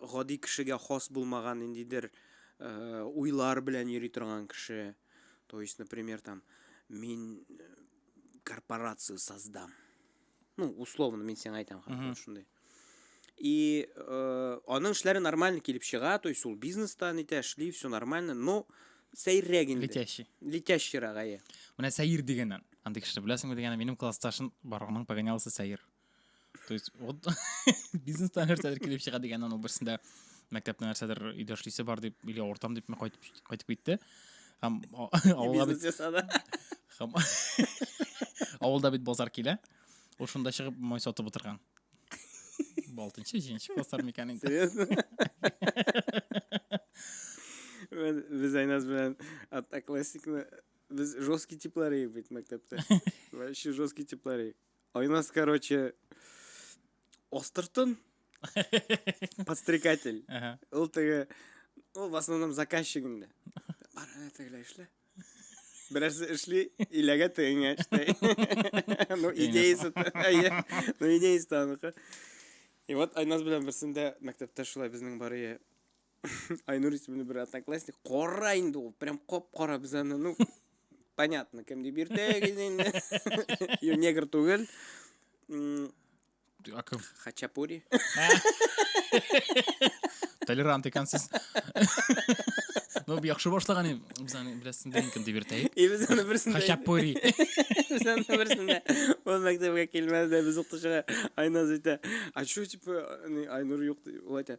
гади кешегә хас булмаган ниндидер э, уйлар белән йөри торган кеше. То есть, например, там мин э, корпорацию создам. Ну, условно мин сиңа әйтәм, хәзер шундый. И э, аның эшләре нормально килеп чыга, то есть ул бизнеста нитә эшли, все нормально, но сәйрәк инде. Летящий. Летящий рагае. Менә сәйр дигәннән. Андый кешене беләсеңме дигәннән, минем классташым бар, аның погонялысы сәйр. то есть вот бизнестан нәрсәдер килеп чыга дигән аның берсендә мәктәптә нәрсәдер өйдә эшлисе бар дип или ортам дип кайтып кайтып китте һәм авылга бит ясады һәм авылда бит базар килә ул шунда чыгып май сатып утырган алтынчы җиденче класслар микән инде серьезно без айназ белән одноклассникны без жесткий типлар идек бит мәктәптә вообще жесткий типлар идек А у нас, короче, Остертон, подстрекатель. Ага. Ул теге, ул в основном заказчик инде. Бар, әнә тегеләр эшлә. Берәрсе эшли, иләгә тегеңә эшли. Ну, идеясы, та- әйе. ну, идеясы та аныкы. И вот Айназ белән берсендә мәктәптә шулай безнең Бария Айнур исемле бер одноклассник кара инде ул, прям кап-кара без аны, ну, понятно, кем дип йөртәгез инде. Ю негр түгел. Акым. Хачапури. Толерант икәнсез. Ну, яхшы башлаган инде. Без аны берсен дә инкем дип йөртәйек. И без аны берсен дә. Хачапури. Без аны берсен дә. Ул мәктәпкә килмәде дә без укытучыга Айназ әйтә. А что типа Айнур юк? Ул әйтә.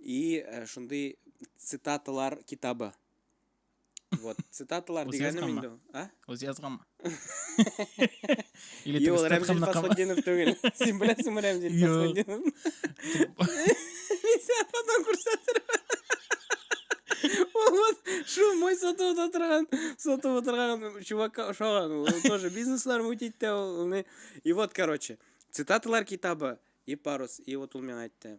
И э, шундый цитаталар китабы. Вот, цитаталар дигәнем инде. А? Үзе язганмы? Или ты Юл, Рәмзил Фасхуддинов түгел. Син беләсеңме Рәмзил Фасхуддинов? Мин сиңа потом күрсәтермен. Ул шул мой сатып отырган, сатып отырган чувакка ошаган. Ул тоже бизнеслар мутит тә ул. И вот, короче, цитаталар китабы и парус. И вот ул миңа әйтте.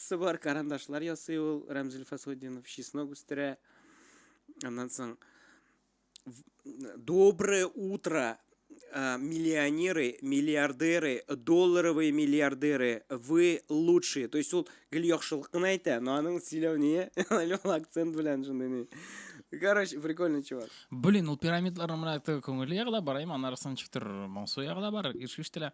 Сыбар карандашлар ясый ул Рәмзил Фасудинов, чеснок үстерә. Аннан соң Доброе утро, э, миллионеры, миллиардеры, долларовые миллиардеры, вы лучшие. То есть ул гел яхшылык кына әйтә, но аның сөйләү ние, ул акцент белән шундый ни. Короче, прикольный чувак. Блин, ул пирамидларның менә теге күңеле ягы да бар, әйме, аннары сынчыктыр моңсу ягы да бар, ишештелә.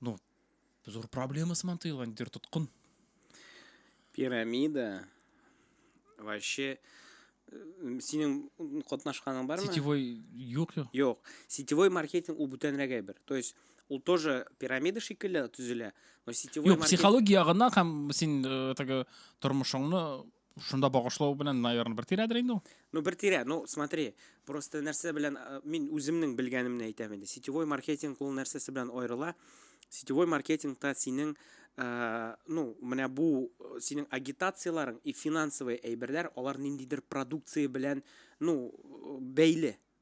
Ну, зур проблема сыман тоелган дир тоткын. Пирамида вообще э, синең катнашканың бармы? Сетевой юк юк. Юк. Сетевой маркетинг ул бүтәнрәк әйбер. То есть ул тоже пирамида шикелле төзелә, но сетевой Юк, маркетинг... психология ягыннан һәм син э, теге тормышыңны Шунда багышлау белән, наверное, бер тирәдер инде ул. Ну, бер тирә, ну, смотри, просто нәрсә белән, э, мин үземнең белгәнемне әйтәм инде. Сетевой маркетинг ул нәрсәсе белән аерыла. Сетевой маркетингта синең, э, ну, менә бу э, синең агитацияләрең и финансовый әйберләр, алар ниндидер продукция белән, ну, бәйле.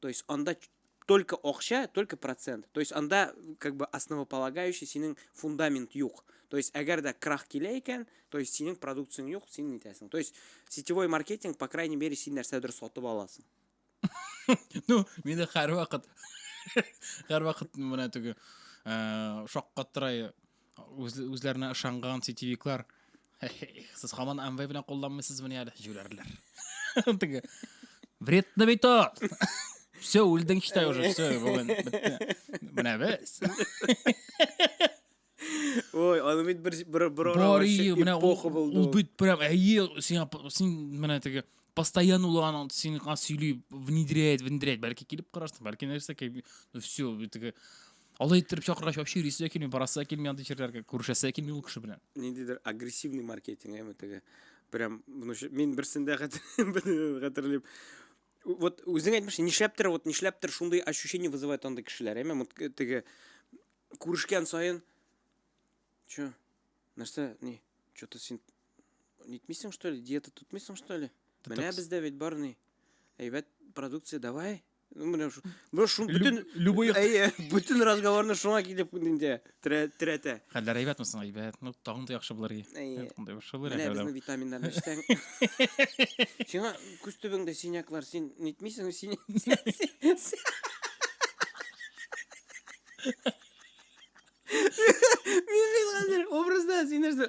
То есть анда только акча, только процент. То есть анда как бы основополагающий синең фундамент юк. То есть әгәр дә крах килә икән, то есть синең продукцияң юк, син нитәсең. То есть сетевой маркетинг, по крайней мере, син нәрсәдер сатып аласың. Ну, мине һәр вакыт һәр вакыт менә теге э, шаккаттырай Үз, үзләренә ышанган сетевиклар. Сез хаман Amway белән кулланмыйсыз мени әле? Җүләрләр. Теге. Вредно бит о! Все, үлдең читай уже, все, бүген бетте. Менә без. Ой, аны бит бер бер бер Бар ие, менә ул, эпоха булды. ул бит прям әйе, сиңа п- син менә теге постоянно ул аны сиңа сөйли, внедряет, внедряет. Бәлки килеп карарсың, бәлки нәрсә ки- ну все, теге Алай иттереп чакыргач, вообще йөрисе дә килми, барасы да килми андый җирләргә, күрешәсе дә килми ул кеше белән. Ниндидер агрессивный маркетинг, әме теге. Прям, ну, мин берсендә хәтерлим. Вот үзең әйтмешсең, нишләптер, вот нишләптер шундый ощущение вызывает андый кешеләр, әме э, теге күрешкән саен. Чё? Нәрсә, ни? Что-то син нитмисең, что ли? Диета тотмыйсың, что ли? Менә бездә бит бар ни. Әйбәт продукция, давай, Бу шул бүтән любой әйе, бүтән разговорны шуңа килеп инде тирәтә. Хәлләр әйбәтме соң? Әйбәт. Ну, тагын да яхшы булыр иде. Әйе. Тагын яхшы булыр иде. Менә безнең витаминнар эчсәң. Сиңа күз төбеңдә синяклар, син нитмисең, син. Мин хәзер образда син нәрсә?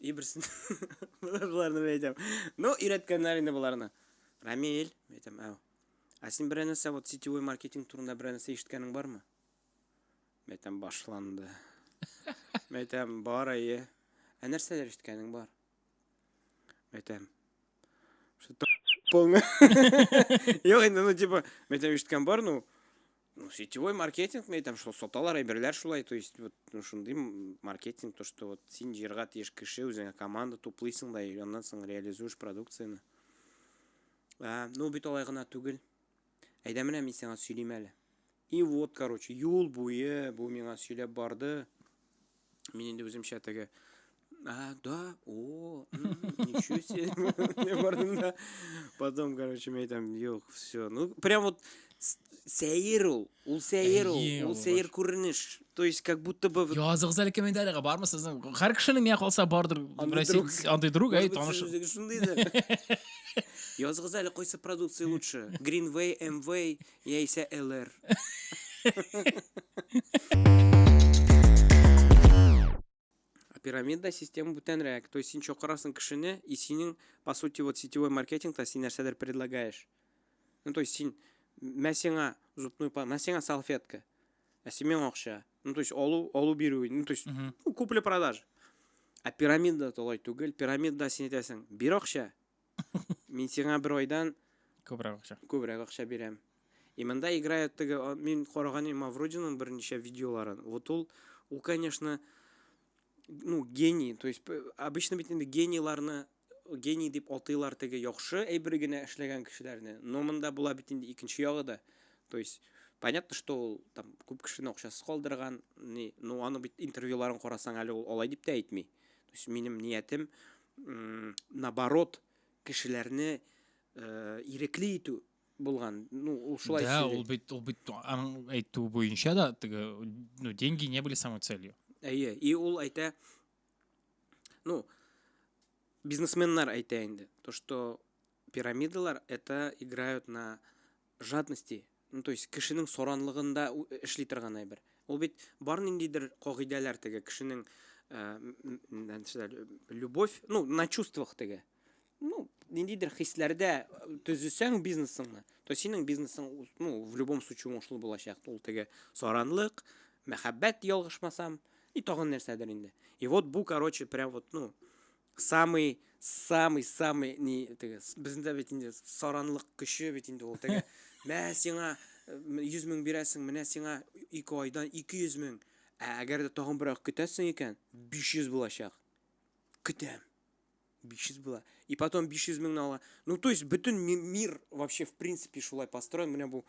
И берсен. Буларны әйтәм. Ну, өйрәткәннәр инде буларны. Рамил, әйтәм, ау. Ә син бер нәрсә вот сетевой маркетинг турында бер нәрсә ишеткәнең бармы? Әйтәм, башланды. Әйтәм, бар әйе. Ә нәрсәләр ишеткәнең бар? Әйтәм. Что полный. Юк, инде, ну, типа, әйтәм, ишеткән бар, ну, Ну, сетевой маркетинг мәйтәм, там, что саталар әйберләр шулай, то есть, вот, ну, шундый маркетинг, то, что вот син җырга тиеш кеше, үзеңә команда туплыйсың да, и аннан соң реализуешь продукцияне. А, ну, бит алай гына түгел. Әйдә менә мин сиңа сөйлим әле. И вот, короче, юл буе бу миңа сөйләп барды. Мин инде үземчә теге А, да, о, ничего себе. Потом, короче, мне там, ёх, все. Ну, прям вот сәер ул ул сәер ул ул сәер күренеш то есть как будто бы языгыз әле комментарийга бармы сезнең һәр кешенең миңа калса бардыр андый друг әй таныш шундый да языгыз әле кайсы продукция лучше greenway mw Яисә ЛР. А пирамидная система бүтәнрәк. То есть син чакырасың кешене, и синең, по сути, вот сетевой маркетингта син нәрсәдер предлагаешь. Ну, то есть син, мә сиңа зубную па, мә сиңа салфетка, ә син миңа акча. Ну, то есть алу, алу бирү, ну, то есть Мгм. ну, купли-продажа. А пирамида толай түгел. Пирамида син әйтәсең, бир акча, Мин сиңа бер айдан Күбрәк акча. күбрәк акча бирәм. И монда играют теге, а, мин караган идем Мавродиның берничә видеоларын. Вот ул, ул, конечно, ну, гений. То есть, п- обычно бит инде генийларны гений дип атыйлар теге яхшы әйбер генә эшләгән кешеләрне. Но монда була бит инде икенче ягы да. То есть, понятно, что ул там күп кешене акчасыз калдырган, ни, ну, аны бит интервьюларын карасаң әле ул алай дип тә әйтми. То есть, минем ниятем наоборот, кешеләрне э, ирекле итү булган. Ну, ул шулай Да, ул бит ул бит аның әйтүе буенча да теге ну деньги не были самой целью. Әйе, и ул әйтә ну бизнесменнар әйтә инде, то что пирамидалар это играют на Жадности, ну то есть кешенең саранлыгында эшли торган әйбер. Ул бит бар ниндидер кагыйдәләр теге кешенең любовь, ну на чувствах теге. Ну, ниндидер хисләрдә төзесәң бизнесыңны, то синең бизнесың ну в любом случае уңышлы булачак. Ул теге саранлык, мәхәббәт ялгышмасам, и тагын нәрсәдер инде. И вот бу, короче, прям вот, ну, самый самый самый ни теге бездә бит инде саранлык көче бит инде ул теге мә сиңа э, йөз мең бирәсең менә сиңа ике айдан ике йөз мең ә әгәр дә тагын берәр көтәсең икән биш йөз булачак көтәм биш йөз була и потом биш йөз меңне ала ну то есть бөтен мир вообще в принципе шулай построен менә бу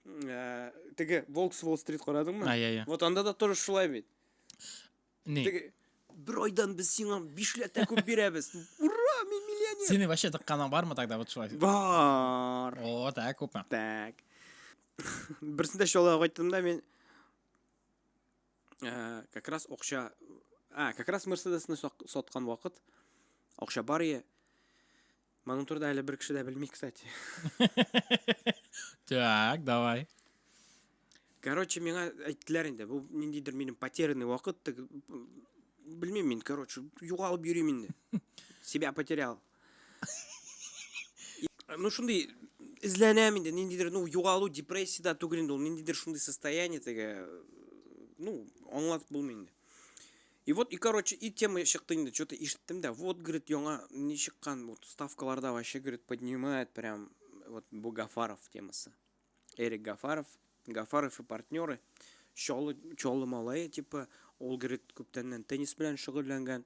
э, теге волкс волл стрит карадыңмы вот анда да тоже шулай бит Ни? Теге, бер айдан без сиңа бишләтә күп бирәбез. Ура, мин миллионер! Синең вообще тыкканың бармы тогда вот шулай? Бар. О, так, күпме? Так. Берсендә шулай кайттым да мин э, как раз акча а, как раз Мерседесны сак- саткан вакыт акча бар е. Моның турында әле бер кеше дә белми, кстати. Так, давай. Короче, миңа әйттеләр инде, бу ниндидер минем потерянный вакыт, тек- белмим мин, короче, югалып йөрим инде. Себя потерял. И, Ну, шундый эзләнәм инде, ниндидер, ну, югалу, депрессия да түгел инде ул, ниндидер шундый состояние теге, ну, аңлатып булмый инде. И вот, и короче, и тема чыкты инде, что-то ишеттем да, вот, говорит, яңа не чыккан, вот, ставкаларда вообще, говорит, поднимает прям, вот, бу Гафаров темасы. Эрик Гафаров, Гафаров и партнеры, Чолы, Чолы Малая, типа, ол, говорит, күптәннән теннис белән шөгыльләнгән.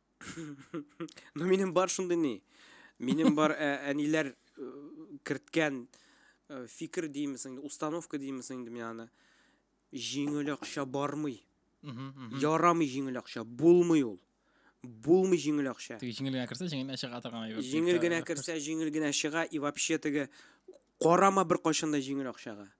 Ну минем бар шундый ни. Минем бар ә, әниләр керткән фикер димисең, установка димисең инде мин аны. Җиңел акча бармый. Ярамый җиңел акча, булмый ул. Булмый җиңел акча. Теге җиңел генә керсә, җиңел генә чыга торган әйбер. Җиңел генә керсә, җиңел генә чыга и вообще теге карама бер кайчан да җиңел акчага.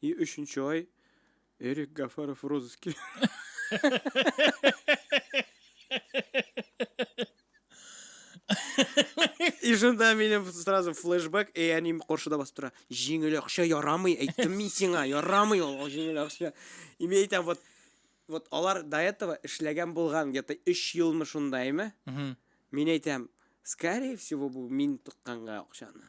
И өченче ай Эрик Гафаров в розыске. И шунда минем сразу флешбэк, и они каршыда басып тора. Җиңел акча ярамый, әйттем мин сиңа, ярамый ул ул җиңел акча. И мин әйтәм, вот вот алар до этого эшләгән булган где-то 3 елмы шундаймы? Мгм. Мин әйтәм, скорее всего, бу мин тыкканга акчаны.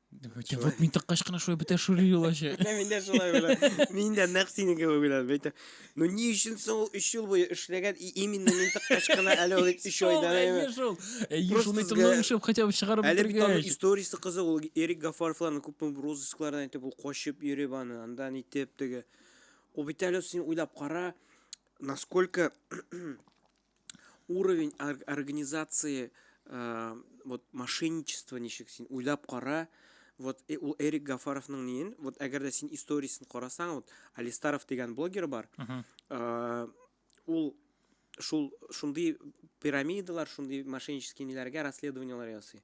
Вот мин тыккач кына шулай бетә шури юлачы. Менә мин дә шулай белә. Мин дә нәкъ синең кебек беләм. Бәйтә. Ну ни өчен соң ул 3 ел буе эшләгән и именно мин тыккач кына әле ул 3 айда әйе. Шул. Әйе, шуны тыңлап эшләп хотя бы чыгарып Әле бит аның бетергәч. историясе кызык, ул Эрик Гафаровларны күпме розысклардан итеп ул качып йөреп аны, андан итеп теге. Ул бит әле син уйлап кара, насколько уровень организации э, вот мошенничество ничек син уйлап кара вот э, ул эрик гафаровның ниен вот әгәр дә син историясен карасаң вот алистаров дигән блогер бар э, ул шул шундый пирамидалар шундый мошеннический ниләргә расследованиелар ясый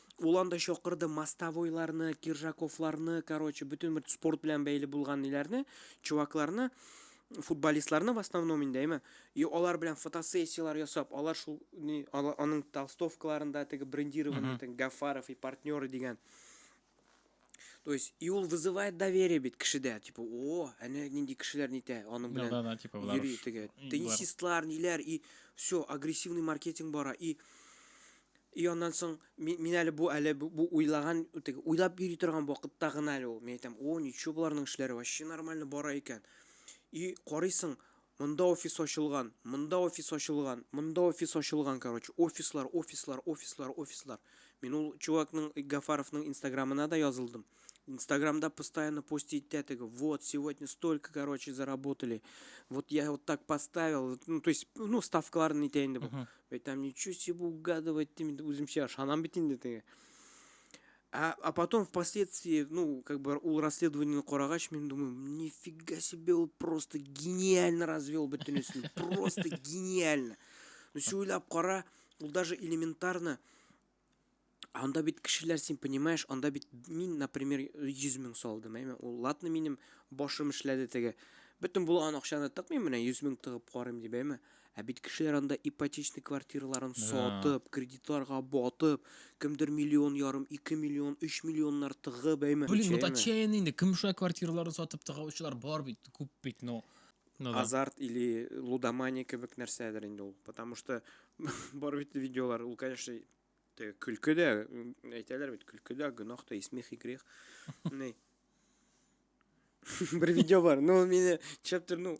Ул анда чакырды мостовойларны, киржаковларны, короче, бөтен бер спорт белән бәйле булган ниләрне, чувакларны, футболистларны в основном инде, әйме. И алар белән фотосессияләр ясап, алар шул ни, ала- аның толстовкаларында теге брендированный, теге Гафаров и партнеры дигән. То есть, и ул вызывает доверие бит кешедә, типа, о, әнә нинди кешеләр нитә, аның белән. Да, да, типа, булар. Йөри теге. Теннисистлар, ниләр, и все, агрессивный маркетинг бара, и И аннан соң мин, мин әле бу әле бу, бу уйлаган теге уйлап йөри торган вакытта гына әле ул. Мин әйтәм, "О, ничего буларның эшләре вообще нормально бара икән". И карыйсың, Монда офис ачылган, монда офис ачылган, монда офис ачылган, короче, офислар, офислар, офислар, офислар. Мин ул чувакның, Гафаровның инстаграмына да язылдым. Инстаграмда постоянно пост итә теге, вот, сегодня столько, короче, заработали, вот я вот так поставил, ну, то есть, ну, ставкаларын итә инде бу. Бәй, там ничего себе угадывать, үземчә ышанам бит инде теге. А, а потом впоследствии, ну, как бы ул расследование карагач, мен думаю, нифига себе, ул просто гениально развел бөтенесен. Просто гениально. Ну, все уйлап кара, ул даже элементарно, анда бит кешеләр, син понимаешь, анда бит мин, например, 100 мең салдым, әйме, ул латны минем башым эшләде теге. Бөтен булган акчаны тыкмыйм менә 100 мең тыгып карыйм дип, әйме. Ә бит кеше яранда ипотечный квартираларын сатып, кредитларга батып, кемдер миллион ярым, ике миллион, өч миллионнар тыгып, әйме? Блин, вот отчаянный инде, кем шулай квартираларын сатып тыгаучылар бар бит, күп бит, но... Ну, да. Азарт или лудомания кебек нәрсәдер инде ул. Потому что бар бит видеолар, ул, конечно, теге көлке дә, әйтәләр бит, көлке дә, гөнаһ та, и смех, и грех. Бер видео бар, ну, мине чаптыр, ну,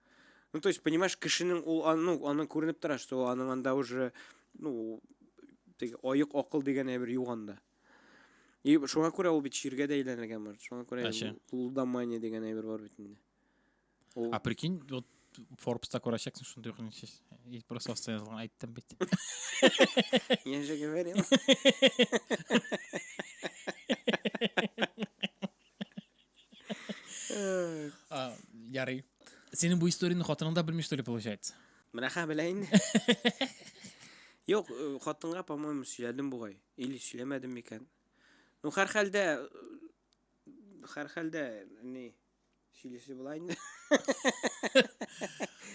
Ну, то есть, понимаешь, кешенең ул, ну, аның күренеп тора, что аның анда уже, ну, теге оек акыл дигән әйбер юганда. И шуңа күрә ул бит чиргә дә әйләнергән бар. Шуңа күрә лудомания дигән әйбер бар бит инде. А прикинь, вот Форбста күрәчәксең шундый ук ничә. И просто оста язган айттым бит. Я же говорил. Ярый. Синең бу историяне хатының да белми, что ли, получается? Менә хә белә инде. Юк, э, хатынга, по-моему, сөйләдем бугай. Или сөйләмәдем микән? Ну, һәр хәлдә э, һәр хәлдә ни сөйләсе була инде.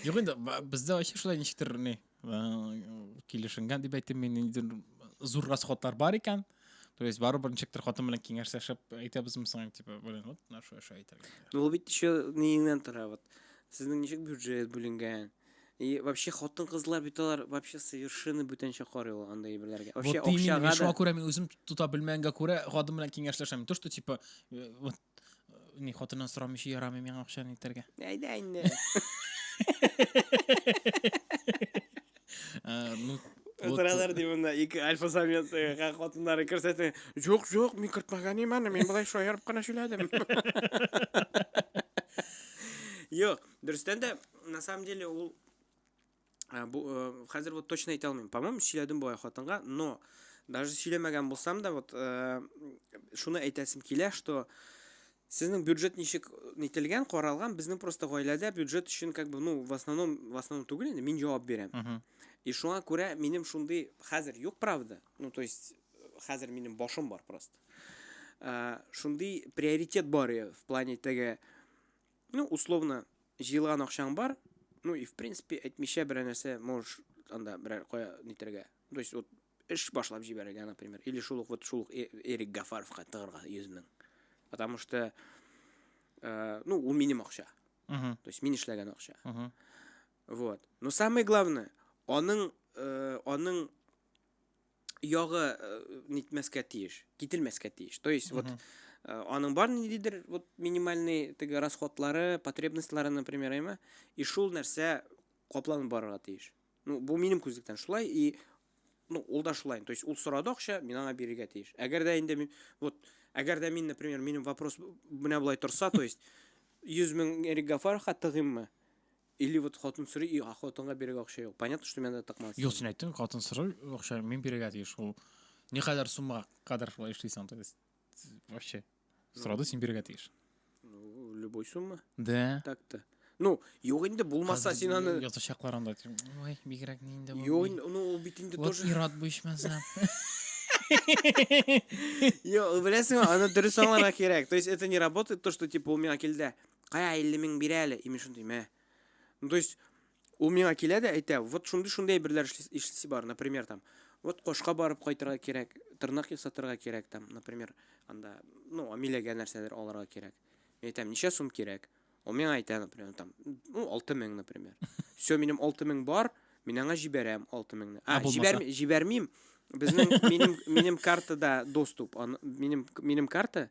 Юк инде, бездә вообще шулай ничектер ни. килешенгән дип әйтим мин ниндидер зур расходлар бар икән то есть барыбер ничектер хатын белән киңәшләшеп әйтәбезме соң типа блин вот менә шулай шулай әйтергә ну ул бит еще ниеңнән тора вот сезнең ничек бюджет бүленгән и вообще хатын кызлар бит алар вообще совершенно бүтәнчә карый ул андай әйберләргә вообще вот акчага да шуңа күрә мин үзем тота белмәгәнгә күрә хатын белән киңәшләшәм то что типа э, вот Ни хатыннан сорамыйча ярамый миңа акча нитәргә. Әйдә инде. Э, ну, вот, Утыралар ди монда ике альфа самец э, га- хатыннары күрсәтә. Юк, юк, мин кертмәгән имән, мин болай шаярып кына сөйләдем. Юк, дөрестән дә, на самом деле, ул Э, бу э, хәзер вот точно әйтә алмыйм по моему сөйләдем бу хатынга но даже сөйләмәгән булсам да вот э, шуны әйтәсем килә что сезнең бюджет ничек нителгән каралган безнең просто гаиләдә бюджет өчен как бы ну в основном в основном түгел инде мин җавап бирәм uh -huh. и шуңа күрә минем шундый хәзер юк правда ну то есть хәзер минем башым бар просто шундый приоритет бар в плане теге Ну, условно, җыелган акчаң бар, ну и в принципе әйтмичә берәр нәрсә можешь анда берәр кая нитергә. То есть вот эш башлап җибәрергә, например, или шул ук вот шул ук э-, Эрик Гафаровка тыгырга 100 мең. Потому что э, ну, ул минем акча. То есть мин эшләгән акча. Вот. Но самое главное, аның э, аның ягы э, нитмәскә тиеш, кителмәскә тиеш. То есть, вот э, аның бар ниндидер вот минимальный теге расходлары, потребностьлары, например, әйме, и шул нәрсә капланып барырга тиеш. Ну, бу минем күзлектән шулай и ну, ул да шулай. То есть, ул сорады акча, мин аңа бирергә тиеш. Әгәр дә инде мин вот әгәр дә мин, например, минем вопрос менә булай торса, то есть 100 мең Эрик Гафарга тыгыйммы? Или вот хатын сорый и хатынга бирергә акча юк. Понятно, что менә тыкмас. Юк, син әйттең, хатын сорый акча мин бирергә тиеш. Ул никадәр сумма кадәр шулай эшлисең, то есть вообще сорады син бирергә тиеш. Ну, любой сумма. Да. Так-то. Ну, юк инде булмаса син аны ятачаклар анда. Ой, бигрәк ни инде. Юк, ну ул бит инде тоже. Вот ират бу ичмәсә. Йо, беләсеңме, аны дөрес аңларга кирәк. То есть это не работает то, что типа у меня килде. Кая 50 мең бирә әле, имеш шундый, мә. Ну, то есть, ул миңа килә дә әйтә, вот шундый шундый әйберләр эшлисе бар, например, там, вот кошка барып кайтырга кирәк, тырнак ясатырга кирәк, там, например, анда, ну, амиләгә нәрсәдер алырга кирәк. Мин әйтәм, ничә сум кирәк? Ул миңа әйтә, например, там, ну, 6 мең, например. Все, минем 6 мең бар, мин аңа җибәрәм 6 меңне. А, җибәр, җибәрмим. Безнең минем минем картада доступ, минем минем карта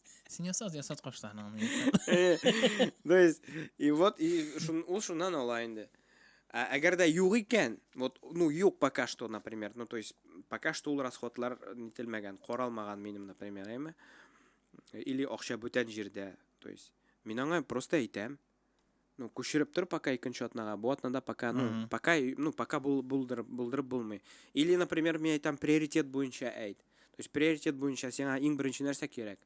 Син ясат, ясат кашларыңны. То есть, и вот, и ул шуннан ала инде. Ә әгәр дә юк икән, вот, ну, юк пока что, например, ну, то есть, пока что ул расходлар нителмәгән, каралмаган минем, например, әйме? Или акча бүтән җирдә, то есть, мин аңа просто әйтәм, ну күчереп тор пока икенче атнага бу атнада пока ну пока ну пока булдырып булдырып булмый или например мин әйтәм приоритет буенча әйт то есть приоритет буенча сиңа иң беренче нәрсә кирәк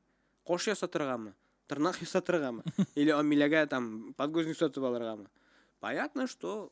кош ясатыргамы тырнак ясатыргамы или амиләгә там подгузник сатып алыргамы понятно что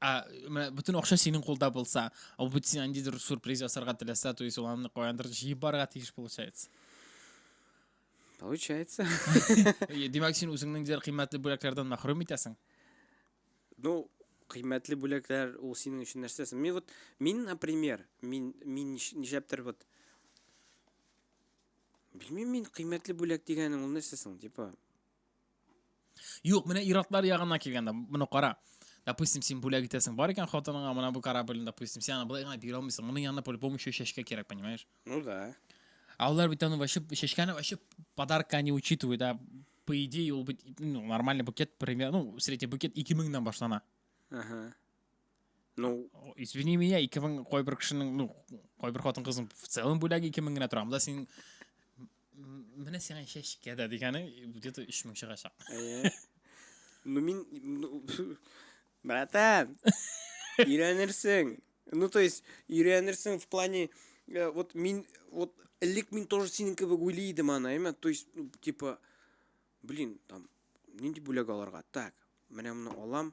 а менә бөтен акча синең кулда булса а бит син андидер сюрприз ясарга теләсә то есть ул аны каяндыр җыеп барырга тиеш получается получается димәк син үзеңнең дияр кыйммәтле бүләкләрдән мәхрүм итәсең ну кыйммәтле бүләкләр ул синең өчен нәрсәсе мин вот мин например мин мин нишләптер вот белмим мин кыйммәтле бүләк дигәнең ул нәрсә соң типа Юк, менә иратлар ягына килгәндә, моны кара. Допустим, син бүләк итәсең бар икән хатыныңа, менә бу корабльне, допустим, сен аны былай гына бирә алмыйсың. Моның янына по-любому еще чәчкә кирәк, понимаешь? Ну да. А алар бит аны вообще чәчкәне вообще подарка не учитывают, да. По идее, ул бит ну, нормальный букет, примерно, ну, средний букет 2000 меңнән башлана. Ага. Ну, извини меня, 2000 кайбер кешенең, ну, кайбер хатын-кызның в целом бүләге 2000 генә тора. Монда син менә сиңа чәчкә дә дигәне где-то 3000 чыгачак. Ну мин ну, братан, өйрәнерсең. Ну то есть өйрәнерсең в плане э, вот мин вот элек мин тоже синең кебек уйлый идем аны, әйме? То есть ну, типа блин, там нинди бүләк аларга? Так, менә моны алам,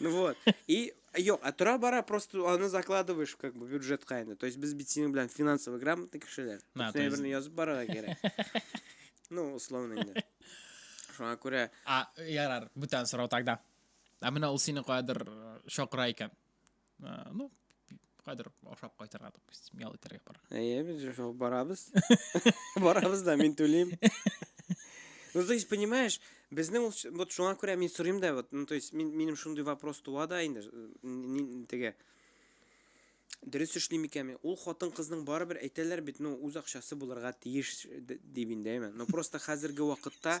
Ну вот. И Йо, а тора бара просто аны закладываешь как бы бюджет кайны. То есть без битсинг белән финансовый грамотный кешеләр. На, то есть... Берне язып барырга кирәк. Ну, условно инде. Шуңа күрә. А, ярар, бүтән сорау тогда. А менә ул сине каядыр э, шакыра икән. ә, ну кадр ашап кайтырга допустим ял итәргә бара әйе без шул барабыз барабыз да мин түлим ну то есть понимаешь безнең ул вот шуңа күрә мин сорыйм да вот ну то есть мин минем шундый вопрос туа да инде э, теге дөрес эшлим икәнме ул хатын кызның барыбер әйтәләр бит ну үз акчасы булырга тиеш дип инде әйме но просто хәзерге вакытта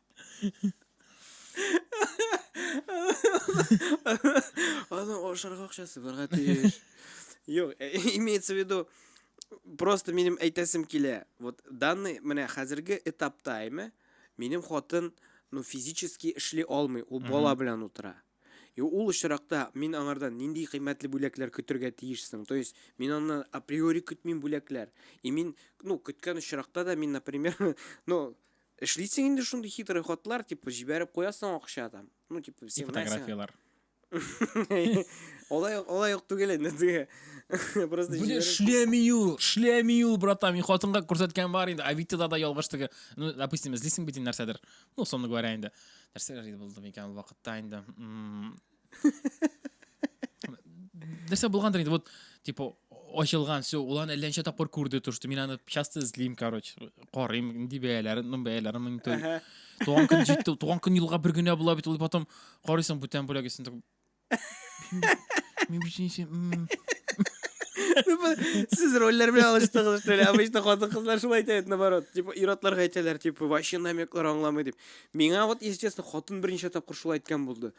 Аны ашарга акчасы барга тиеш. Юк, э, имеется в виду, просто минем әйтәсем килә. Вот данный менә хәзерге этапта әйме, минем хатын ну физически эшли алмый, ул бала белән утыра. И ул очракта мин аңардан нинди кыйммәтле бүләкләр көтергә тиешсең. То есть мин аннан априори көтмим бүләкләр. И мин, ну, көткән очракта да мин, например, ну, Эшлисең инде шундый хитрый хатлар, типа, җибәреп куясың акча там. Ну, типа, И сигнал. фотографиялар. Олай юк, олай юк түгел инде теге. Просто Блин, җибәреп- шлеми юл, шлеми юл, братан. Мин хатынга күрсәткән бар инде. Авитада да ялгыш теге. Ну, допустим, эзлисең бит инде нәрсәдер. Ну, условно говоря, инде. Нәрсәләр иде булды микән ул вакытта инде? М, нәрсә булгандыр инде вот типа ачылган все ул аны әллә ничә тапкыр күрде то что мин аны часто эзлим короче карыйм нинди бәяләрен ну бәяләрен мониторю туган көн җитте туган көн елга бер генә була бит ул потом карыйсың бүтән бүләк исен мин бит син Сез рольләр белән алыштыгыз, что ли? Обычно хатын кызлар шулай әйтә, наоборот. Типа, ир-атларга әйтәләр, типа, вообще намеклар аңламый дип. Миңа вот, если честно, хатын берничә тапкыр шулай әйткән булды.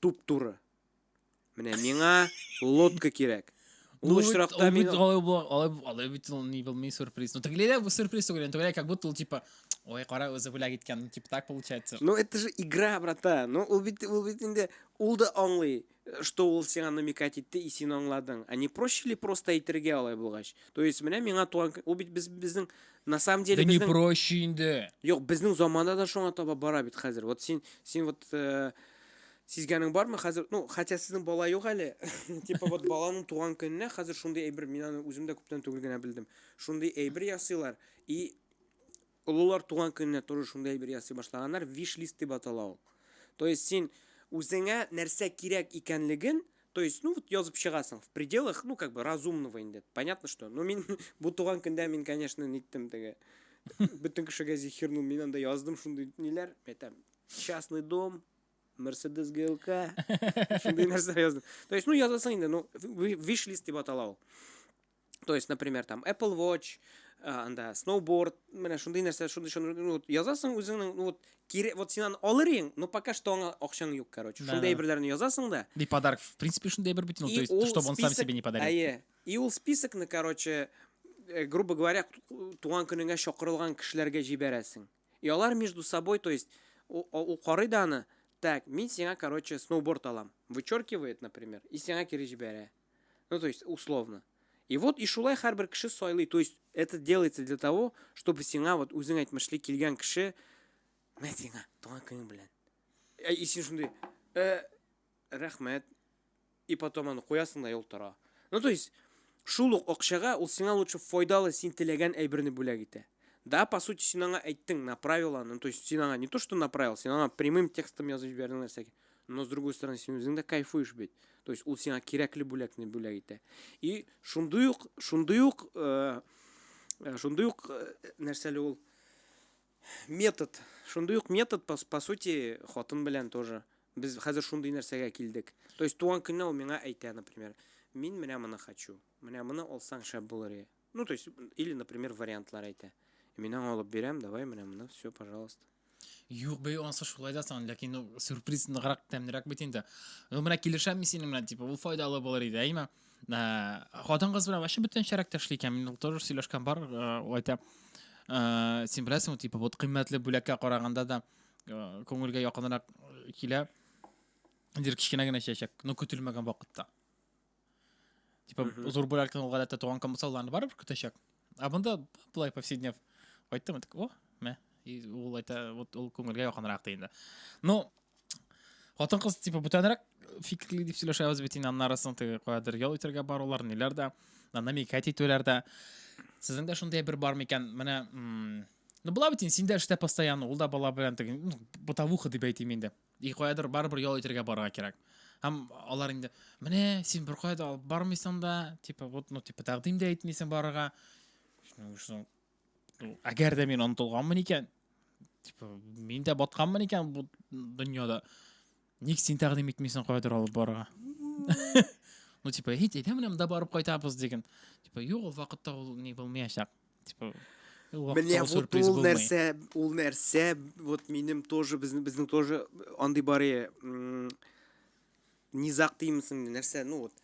Туп-туры. Менә миңа лодка кирәк. Ул очракта мин алай алай алай бит ул не был сюрприз. Ну тегеләй дә бу сюрприз түгел, тегеләй как будто ул типа Ой, кара, үзе бүләк иткән, ну, типа так получается. Ну, это же игра, брата. Ну, ул бит, ул бит инде, ул да аңлый, что ул сиңа намекать итте, и син аңладың. А не проще ли просто әйтергә алай булгач? То есть, менә миңа туган, ул бит без, безнең На самом деле Да не безнең проще инде. Юк, безнең заманда да шуңа таба бара бит хәзер. Вот син син вот э, сизгәнең бармы хәзер? Ну, хотя сезнең бала юк әле. Типа вот баланың туган көненә хәзер шундый әйбер мин аны үзем дә күптән түгел генә белдем. Шундый әйбер ясыйлар и олылар туган көненә тоже шундый әйбер ясый башлаганнар, виш-лист дип атала ул. То есть син үзеңә нәрсә кирәк икәнлеген То есть, ну вот язып чыгасың в пределах, ну как бы разумного инде. Понятно, что. Но мин бу туган көндә мин, конечно, ниттем теге. Бөтен кешегә зихирнул, мин анда яздым шундый ниләр, әйтәм. Частный дом, Мерседес ГЛК. Шундый нәрсә яздым. То есть, ну язасың инде, ну виш-лист дип атала ул. То есть, например, там Apple Watch, анда сноуборд менә шундый нәрсә шундый шундый ну, язасың үзеңнең ну, вот кире вот син аны алыр ең но пока что аңа акчаң юк короче да, шундый әйберләрне язасың да и подарок в принципе шундый әйбер бит ну, то есть чтобы он сам себе не подарил әйе и ул списокны короче э, грубо говоря туган көнеңә чакырылган кешеләргә җибәрәсең и алар между собой то есть ул карый да аны так мин сиңа короче сноуборд алам вычеркивает например и сиңа кире җибәрә Ну, то есть, условно. И вот и шулай һәрбер кеше сайлый. То есть, это делается для того, чтобы сиңа вот үзең әйтмешли килгән кеше мә сиңа туган көнең белән. Ә и син шундый, э, рәхмәт. И потом аны куясың да юл тора. Ну, то есть, шул ук акчага ул сиңа лучше файдалы син теләгән әйберне бүләк итә. Да, по сути, син аңа әйттең, направила, ну, то есть, син аңа не то, что направил, син аңа прямым текстом язып җибәрдең нәрсәгә. но с другой стороны син үзең дә кайфуешь бит то есть ул сиңа кирәкле бүләкне бүләк итә и шундый ук шундый ук э, э, шундый ук э, нәрсәле ул метод шундый ук метод по, по сути хатын белән тоже без хәзер шундый нәрсәгә килдек то есть туган көнне ул миңа әйтә например мин менә моны хочу менә моны алсаң шәп булыр Ну, то есть, или, например, вариантлар әйтә. Мин аңа алып бирәм, давай, менә моны, все, пожалуйста. Юк бей, анысы шулай да сан, ләкин ну, сюрприз ныграк тәмнерәк бит инде. Ну, менә килешәм мин синең белән, типа, ул файдалы булыр иде, әйме? Ә, хатын кыз белән вообще бөтен шәрәк тәшли икән, мин тоже сөйләшкән бар, ул әйтә. Ә, син беләсең, типа, вот кыйммәтле бүләккә караганда да күңелгә якынрак килә. Дир кечкенә генә чәчәк, ну, көтелмәгән вакытта. Типа, mm -hmm. зур бүләктән ул гадәттә туган комсалларны барыбер көтәчәк. Ә монда былай повседнев. Кайттым, так, о, мә. И ул айта, вот ул күңелгә якынрак ди инде. Ну, хатын кыз типа бүтәнрәк фикерли дип сөйләшәбез бит инде аннары соң теге каядыр ял итәргә барулар, ниләр дә, намекать итүләр дә. Сезнең дә шундый бер бар микән? Менә, ну, була бит инде, син дә эштә постоянно, ул да бала белән теге, ну, бытовуха дип әйтим инде. И каядыр барыбер ял итәргә барырга кирәк. Һәм алар инде, менә син бер кая да алып бармыйсың да, типа вот, ну типа тәкъдим дә итмисең барырга. Әгәр дә мин онытылганмын икән, типа мин дә батканмын икән бу дөньяда. Ник син тәкъдим итмисең каядыр алып барырга? Ну типа, һит, әйдә менә монда барып кайтабыз диген. Типа, юк, ул вакытта ул не булмаячак. Типа, Менә вот ул нәрсә, ул нәрсә, вот минем тоже, безнең, безнең тоже андый бар е, низак деймсең, нәрсә, ну вот,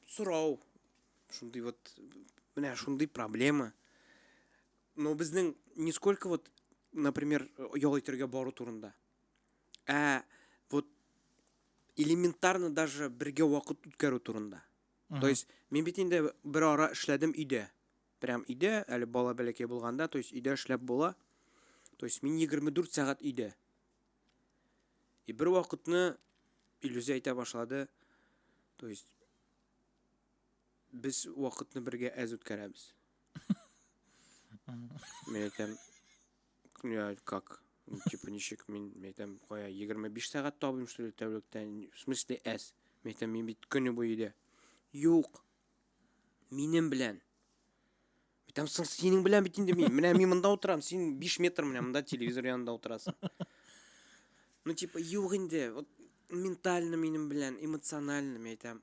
сорау, шундый вот, менә шундый проблема. Но безнең нисколько вот, например, ял итергә бару турында. Ә вот элементарно даже бергә вакыт үткәрү турында. То есть, мин бит инде бер ара эшләдем өйдә. Прям өйдә, әле бала бәләкәй булганда, то есть өйдә эшләп була. То есть мин 24 сәгать өйдә. И бер вакытны Илюзә әйтә башлады. То есть без вакытны бергә әз үткәрәбез. Мин әйтәм, я как? Ну, типа ничек мин, мин әйтәм, кая 25 сәгать табыйм что ли тәүлектә? В смысле әз? Мин әйтәм, мин бит көне буе өйдә. Юк, Минем белән. Битәм соң синең белән бит инде мин. Менә мин монда утырам, син 5 метр менә монда телевизор янында утырасың. Ну типа юк инде. Вот ментально минем белән, эмоционально мен әйтәм.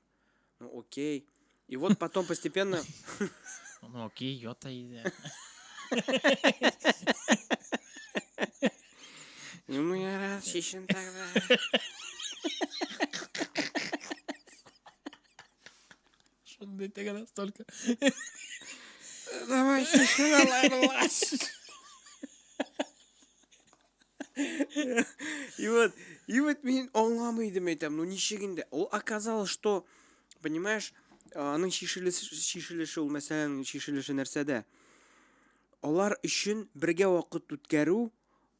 Ну окей. И вот потом постепенно Ну окей, йота иде. Ну я раз шешен тогда. Что ты так настолько? Давай, И вот, и вот меня аңламыйдым әйтәм, ну ничек инде. Ул оказалось, что, понимаешь, аның шишелеше ул мәсәләнең шишелеше нәрсәдә? Алар өчен бергә вакыт үткәрү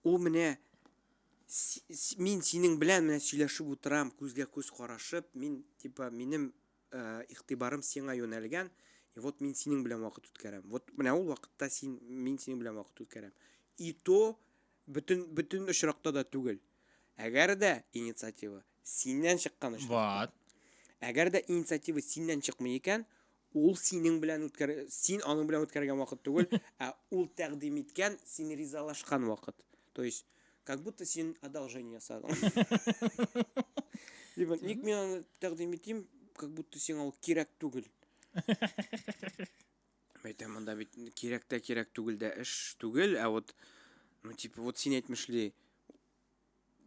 ул менә мин синең белән менә сөйләшеп утырам, күзгә күз карашып, мин типа минем э, игътибарым сиңа юнәлгән, и вот мин синең белән вакыт үткәрәм. Вот менә ул вакытта син мин синең белән вакыт үткәрәм. И то бөтен бөтен очракта да түгел. Әгәр дә инициатива Синнән чыккан очракта. Вот. Әгәр дә инициатива синнән чыкмый икән, ул синең белән үткәр син аның белән үткәргән вакыт түгел, ә ул тәкъдим иткән, син ризалашкан вакыт. То есть, как будто син одолжение ясадың. Либо ник мин аны тәкъдим итим, как будто сиңа ул кирәк түгел. Әйтәм, монда бит кирәк тә кирәк түгел дә эш түгел, ә вот ну типа вот син әйтмешли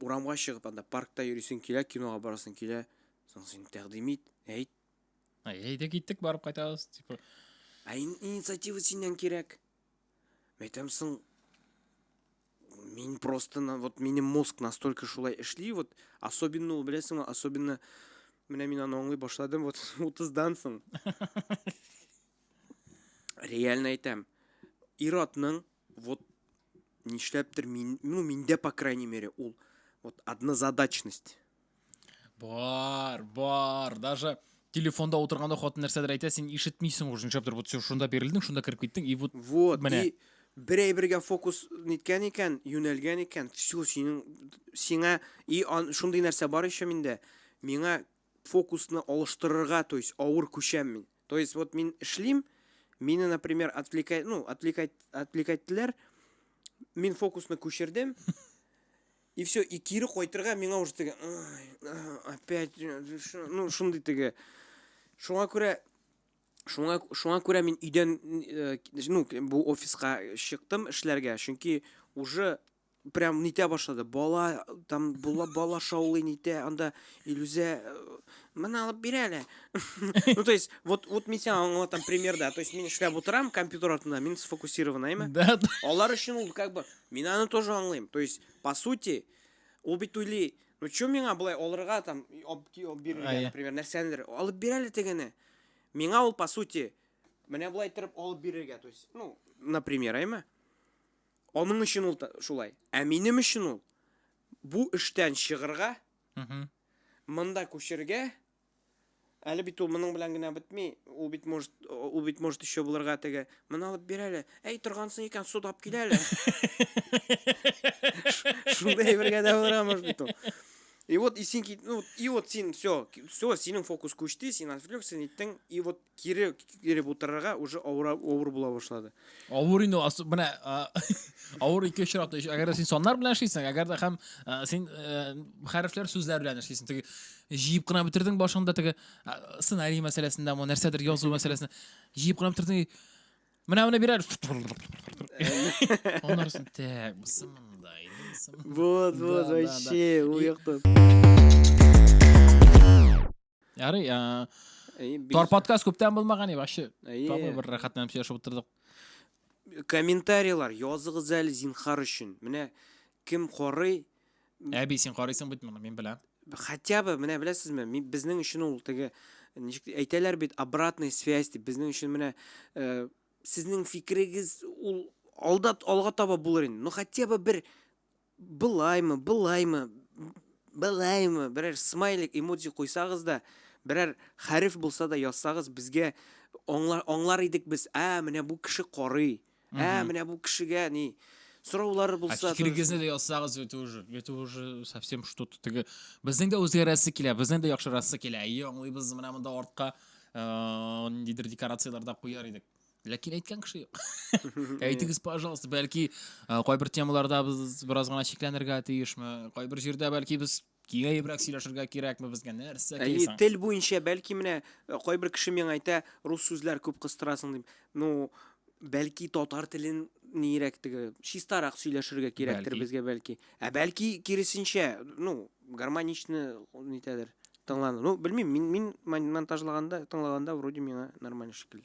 Урамга чыгып, анда паркта йөрисең килә, кинога барасың килә. Соң син тәкъдим ит, әйт. Әйдә киттек, барып кайтабыз, типа. Ә ин инициатива синнән кирәк. Мәйтәм соң мин просто на вот минем мозг настолько шулай эшли, вот особенно ул беләсеңме, особенно менә мин аны аңлый башладым вот 30-дан соң. Реально әйтәм. Иратның вот нишләптер мин ну миндә по крайней мере ул вот однозадачность бар бар даже телефонда отырганда хатын нәрсәдер әйтә син ишетмисең уже нишләптер вот син шунда бирелдең шунда кереп киттең и вот вот менә и бер әйбергә фокус ниткән икән юнәлгән икән все синең сиңа и ан, шундый нәрсә бар еще миндә миңа фокусны алыштырырга то есть авыр күчәм мин То есть вот мин эшлим, мине, например, отвлекай, ну, отвлекай, отвлекайттеләр, мин фокусны күчердем, и все, и кире койтырга миңа уже теге, опять, ну, шундый теге, шуңа күрә, шуңа, шуңа күрә мин өйдән, ну, бу офиска чыктым эшләргә, чөнки уже прям нитә башлады бала там була бала шаулый нитә анда илүзә э, мына алып бир әле ну то есть вот вот мин сиңа аңлатам примерда то есть мин эшләп утырам компьютер артында мин сфокусированный ме да алар өчен ул как бы мин аны тоже аңлыйм то есть по сути ул бит уйлый ну чё миңа былай алырга там бирергә например нәрсәнедер алып бир әле тегене миңа ул по сути менә былай иттереп алып бирергә то есть ну например әйме Аның өчен ул шулай. Ә минем өчен ул бу эштән чыгырга, монда күчергә, әле бит ул моның белән генә бетми, ул бит может, ул бит может еще булырга теге, моны алып бир әле, әй торгансың икән, судап кил әле. Шунда әйбергә дә булырга может бит ул. И вот, и син кит, ну, и вот син, все, все, синең фокус күчте, син отвлекся, ниттең, и вот Кире киреп утырырга уже авыр авыр була башлады. Авыр инде ас менә авыр ике очракта әгәр дә син саннар белән эшлисең, әгәр дә һәм син хәрефләр сүзләр белән эшлисең. Теге җыеп кына бетердең башыңда теге сценарий мәсьәләсендә мо нәрсәдер язу мәсьәләсендә җыеп кына бетердең. Менә менә бирәр. Аннарсын тәк, бусымында инде. Вот, вот, вообще, уяктан. Ярый, ә Тор подкаст күптән булмаган и вообще. Табы бер рәхәтләнеп сөйләшеп утырдык. Комментарийлар языгыз әле зинхар өчен. Менә кем карый? Әби, син карыйсың бит моны, мин беләм. Хотя бы, менә беләсезме, безнең өчен ул теге ничек әйтәләр бит, обратная связь дип, безнең өчен менә э, сезнең фикерегез ул алда алга таба булыр инде. Ну хотя бы бер Былаймы, былаймы, былаймы, берәр смайлик, эмоджи куйсагыз да, берәр хәреф булса да язсагыз, безгә аңлар, аңлар идек без, ә, менә бу кеше карый, ә, менә бу кешегә ни, сораулары Ә булса... фикерегезне дә язсагыз, это уже, это уже совсем что-то теге. Безнең дә үзгәрәсе килә, безнең дә яхшырасы килә. Әйе, аңлыйбыз, менә монда артка э, ниндидер декорацияләр дә куяр идек. Ләкин әйткән кеше юк. Әйтегез, пожалуйста, бәлки ә, кайбер темаларда без бераз гына чикләнергә тиешме? Кайбер җирдә бәлки без киңәебрәк сөйләшергә кирәкме безгә? Нәрсә Әйе, кирәк? тел буенча бәлки менә э, кайбер кеше миңа әйтә, рус сүзләр күп кыстырасың дип. Ну, бәлки татар телен нирәк теге чистарак сөйләшергә кирәктер Бәлки. безгә бәлки. Ә бәлки киресенчә, ну, гармоничны нитәдер тыңлану. Ну, белмим, мин мин мон- монтажлаганда, тыңлаганда вроде миңа нормально шикелле.